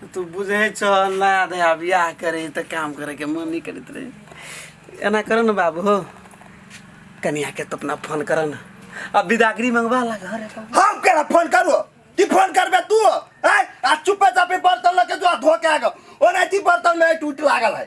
तऽ तू बुझै छह नया नया बियाह करै तऽ काम करैके मन नहि करैत रहै एना करऽ ने बाबू हो कनियाके तऽ अपना फोन करऽ ने आ बिदागरी मंगवा ला घर हम केना फोन करू ती फोन करबे तू आय आ चुपे चापे बर्तन लके जो धो के आगो ओना ती बर्तन में टूट लागल है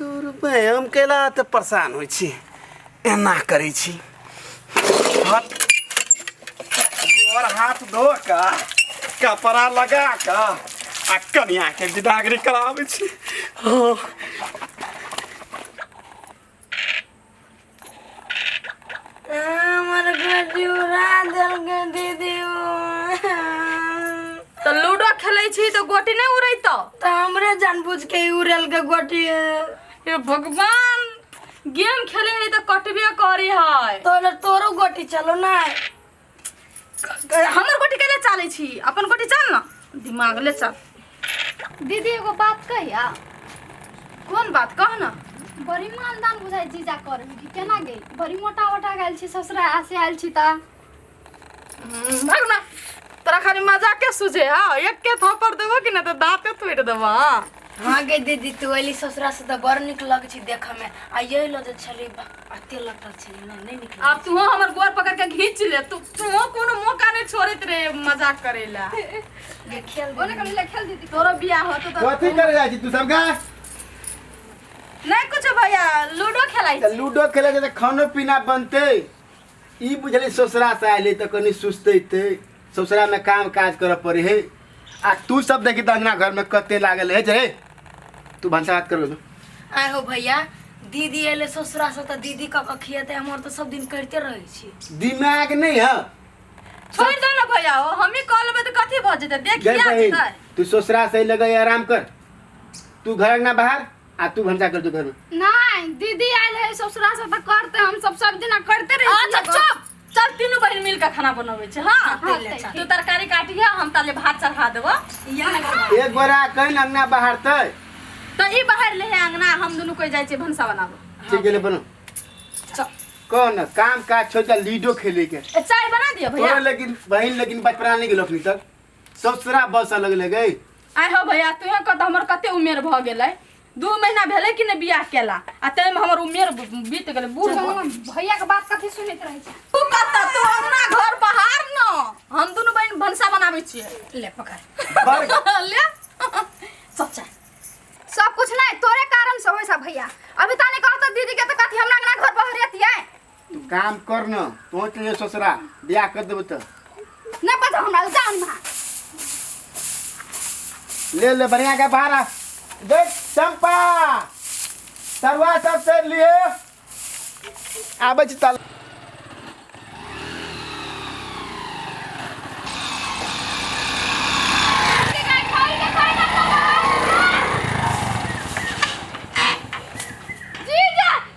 हम कैला एते परेशान होइ छी एना करै छी हाथ गोर हाथ धो कऽ कपड़ा लगा कऽ आ कनियाके विदागरी कराबै छी हँ हमर गड्डी उड़ा देलकै दीदी तऽ लूडो खेलै छी तऽ गोटी नहि उड़ैतौ तऽ हमरे जानबूझ के ई उड़ेलकै गोटी हे भगवान गेम खेले है तऽ कटबे करी है तोरे तोरो गोटी चलो ना हमर गोटी के ले चाले छी अपन गोटी चल ना दिमाग ले चल दीदी एगो बात कहिया कौन बात कह ना बड़ी मानदान बुझाइ जीजा कर कि केना गई बड़ी मोटा मोटा गल छी ससुरा आसे आयल छी ता हम्म, भाग ना तोरा खाली मजाक के सुझे हाँ एक के थप्पड़ देबो कि ना तो दांते तोड़ देबो हाँ हाँ गे दीदी तू अली ससुरा से तो बड़ निक लग छी देख में आ यही लो जे छली अते लटक छै ना नहीं निकल अब तू हमर गोर पकड़ के घींच ले तू तू कोनो मौका नहीं छोड़त रे मजाक करेला ये खेल ओने कम ले खेल दीदी तोरो बियाह होतो तो कथी करे जाइ छी तू सब गा नहीं कुछ भैया लूडो खेलाई त लूडो खेले जे त खानो पीना बनते ई बुझले ससुरा से आइले त कनी सुस्तैते ससुरा में काम काज करऽ पड़े है आ तू सब देखी त अंगना घर में कते लागल है जे तू भनसा भात कर दो आय हो भैया दीदी एले ससुरा से तऽ दीदी कऽ कऽ खियेतै हमर तऽ सब दिन करिते रहै छी दिमाग नहीं है छोड़ दो ना भैया हो हम ही कॉल में तो कथी भऽ जेतै देख जय क्या बहिन जेतै तू ससुरा से लगे आराम कर तू घर अंगना बाहर आ तू भनसा कर दो घर में नहीं दीदी आयल है ससुरा से तो करते हम सब सब दिना करते रहे अच्छा चुप चल तीनू बहिन मिल के खाना बनबै छै हां हाँ, ले चल। तू तरकारी काटिया हम ताले भात चढ़ा देबो इया ना करबो। एक गोरा कहीं अंगना बहारते तो ई बाहर ले है अंगना हम दुनू कोई जाय छै भनसा बनाबो ठीक गेले बनो चल कौन न, काम काज छोड़ के लीडो खेले के ए, चाय बना दिया भैया तोरा लेकिन बहन लेकिन बचपना नहीं गेलो अखनी तक ससुरा बस अलग लगे आय हो भैया तू कत हमर कते उमेर भ गेलै दू महीना भेलै कि नहि बियाह केला आ ताहिमे हमर उमेर बीत गेलै बूढ़ भऽ गेलै। भैया के बात कथी सुनैत रहै छै तू कतऽ तू हमरा घर बहार न हम दुनू बहिन भनसा बनाबै छियै ले पकड़ ले सच्चा सब कुछ नहीं तोरे कारण से होय सब भैया अभी ताने कहत दीदी के तो कथी हमरा अंगना घर बहरियत ये तू काम कर न पहुँच ले ससुरा ब्याह कर देबो तो ना पता हमरा जान में ले ले बढ़िया के भाड़ा देख चंपा तरुआ सब से लिए आबै छी तल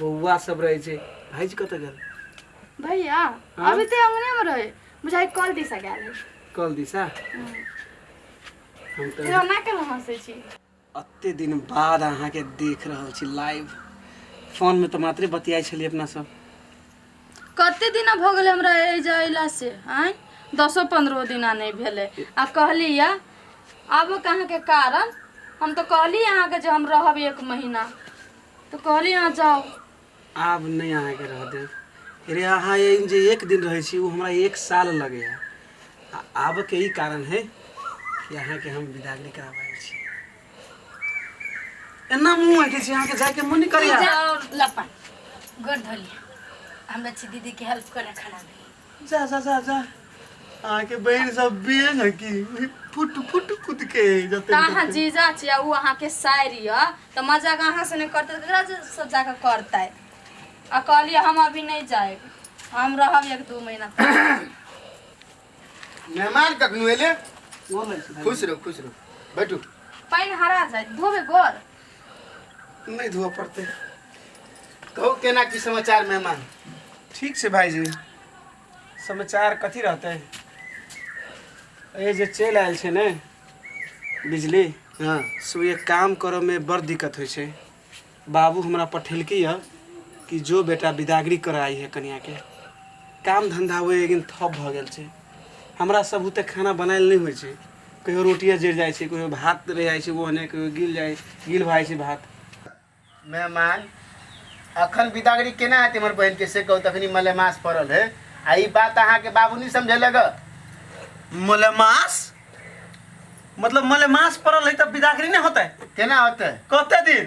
बौआ सब रहे छै भाईजी कतऽ गेल भैया हाँ? अभी तो अंगने में रहे बुझाई कॉल दिशा गया है कल दिशा हम तो तेरा ना कर हंसे छी अते दिन बाद अहाँ के देख रहल छी लाइव फोन में तो मात्रे बतियाई छलिए अपना सब कते दिन भ गेल हमरा ए जाइला से आय दसो पंद्रहो दिना नहीं भेले आ कहली या आबो कहाँ के कारण हम तो कहली अहाँ के जे हम रहब एक महीना तो कहली अहाँ जाओ आब नहीं अहाँ के रह दे अरे अहाँ ये जे एक दिन रहे छी वो हमरा एक साल लगे है आ आब के ई कारण है कि अहाँ के हम विदागरी कराबे छी एना मुंह है कि छी अहाँ के जाए के मन नहीं करे है। लपा गोर धोली हमरा छी दीदी के हेल्प करे खड़ा जा जा जा जा अहाँ के बहन सब बेन है कि फुट फुट कूद के जते अहाँ जीजा छिया उ अहाँ के शायरी है तो मजाक अहाँ से नहीं करते तो केकरा से जाकर करता है आ कहलिए हम अभी नहीं जाए हम रहब एक दू महीना तक। मेहमान कखनु एले खुश रहो खुश रहो बैठू पानि हरा जाए धोबे गोर नहीं धोआ पड़ते कहो केना की समाचार मेहमान ठीक से भाई जी समाचार कथी रहते ये जे चल आयल छे ने बिजली हाँ सो ये काम करऽ में बड़ दिक्कत होइ छै बाबू हमरा पठेलकी है कि जो बेटा विदागरी कर आई है कन्या के काम धंधा हुए लेकिन ठप भऽ गेल छै हमरा सब बुते खाना बनायल नहि होइ छै कहियो रोटिया जरि जाइ छै कहियो भात रहि जाइ छै ओ ओने कहियो गिल जाइ गिल भऽ जाइ छै भात मेहमान अखन बिदागरी केना हेतै हमर बहिनके से कहू तखनी मलेमास पड़ल है आ ई बात अहाँके बाबू नहि समझेलक हँ। मलेमास मतलब मलेमास पड़ल है तब बिदागरी नहि होतै केना होतै कते दिन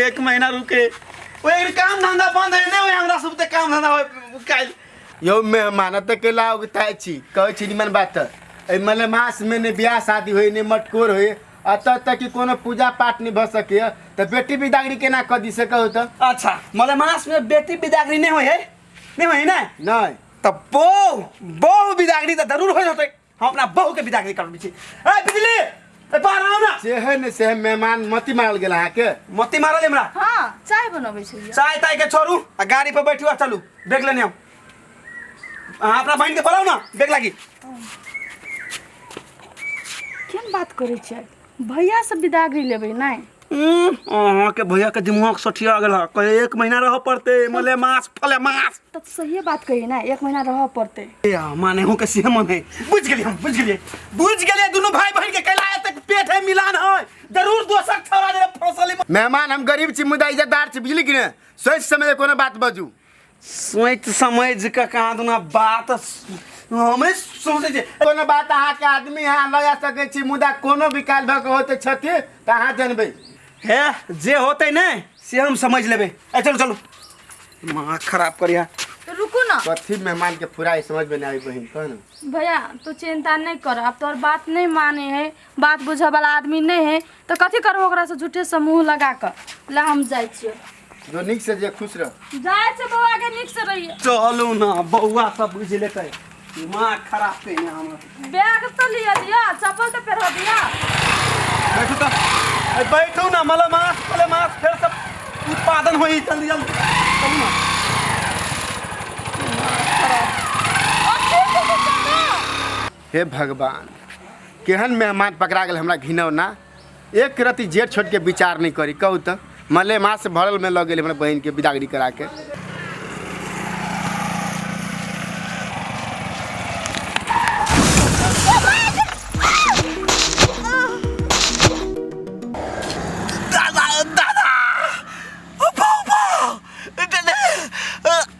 एक महीना रुके ओ एक काम धंधा बंद है ने ओए हमरा सब ते काम धंधा होय काल यो मेहमान त के लाओ के ताय छी कहै छी निमन बात ए मले मास में ने ब्याह शादी होय ने मटकोर होय अत तक कि कोनो पूजा पाठ नहीं भ सके त बेटी बिदागरी केना क दी से कहू त अच्छा मले मास में बेटी बिदागरी नहीं होय है नहीं होय है ना नहीं तब बो बो बिदागरी त जरूर होय होते हम अपना बहू के विदा कर छी ए बिजली ए बाहर आओ ना से है ने से है मेहमान मती मारल गेल अहाँ के मती मारल हमरा हाँ चाय बनबै छै चाय ताय के छोड़ू आ गाड़ी पर बैठू आ चलू बैग लेने हम अहाँ अपना बहन के बोलाऊ ना बैग लागी केहन बात करै छियै भैया से बिदागरी लेबै नै उम्म, अहाँ के भैया के दिमाग सठिया गेल है कहे एक महीना रह पड़ते मले मास फले मास तब सहिए बात कही ना एक महीना रह पड़ते ए, माने हूँ के सीहे मन है बुझ गेलिए हम बुझ गेलिए बुझ गेलिए दोनों भाई बहन के कैला तक पेट है मिलान है जरूर दोसर छोरा जरा फसल मेहमान हम गरीब छी मुदा इज्जतदार छी बुझली कि ने सोच समझ के कोनो बात बाजू सोचि समझि कऽ कहाँ दुना बात हमे सोचै छी कोनो बात अहाँके आदमी अहाँ लगा सकै छी मुदा कोनो विकास भऽ कऽ होते छथि तऽ अहाँ जनबै हे जे होतै ने से हम समझ लेबै ए चलू चलू माँ खराब करिया तो रुकू ना कथी मेहमान के फुराई समझ में नहीं आई बहन कह ना भैया तू चिंता नहीं कर अब तोर बात नहीं माने है बात बुझे वाला आदमी नहीं है तो कथी करबो ओकरा से झूठे से मुंह लगा कर ला हम जाय छियो जो निक से जे खुश रह जाय से बौआ के निक से रहिए चलू ना बौआ सब बुझ लेते दिमाग खराब कइले हमरा बैग तो लिया दिया चप्पल तो पहना दिया बैठू तो अरे बैठू ना मला मास मला मास फिर सब उत्पादन होई जल्दी जल्दी चलू ना हे भगवान केहन मेहमान पकड़ा गेल हमरा घिनौना एक रति जेठ छोटके विचार नहि करी कहू तऽ मलेमास भरलमे लऽ गेल हमरा बहिनके बिदागरी कराके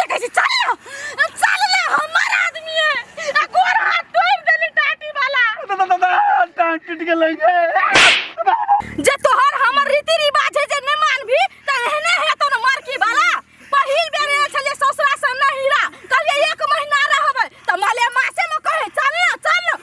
देखै छी चल ना अब चल ना हमर आदमी है आ गोर हाथ तोड़ देले टाटी वाला टांग टूट गेलै गे जे तोहर हमर रीति रिवाज है जे ने मानबी त एहने है तो न मारकी वाला पहिल बेर आयल छले ससुरा से न हीरा कहलिए एक महीना रहबै त मले मासे में कहे चल ना चल ना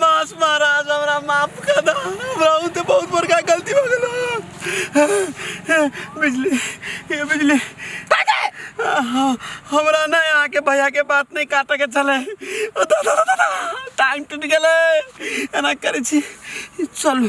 मास महाराज हमरा माफ कर दा हमरा उते बहुत बड़का गलती हो गेल बिजली ये बिजली हाँ, हमरा ना यहाँ के भैया के बात नहीं काटे के चले टाइम टूट गए एना करे छी चलू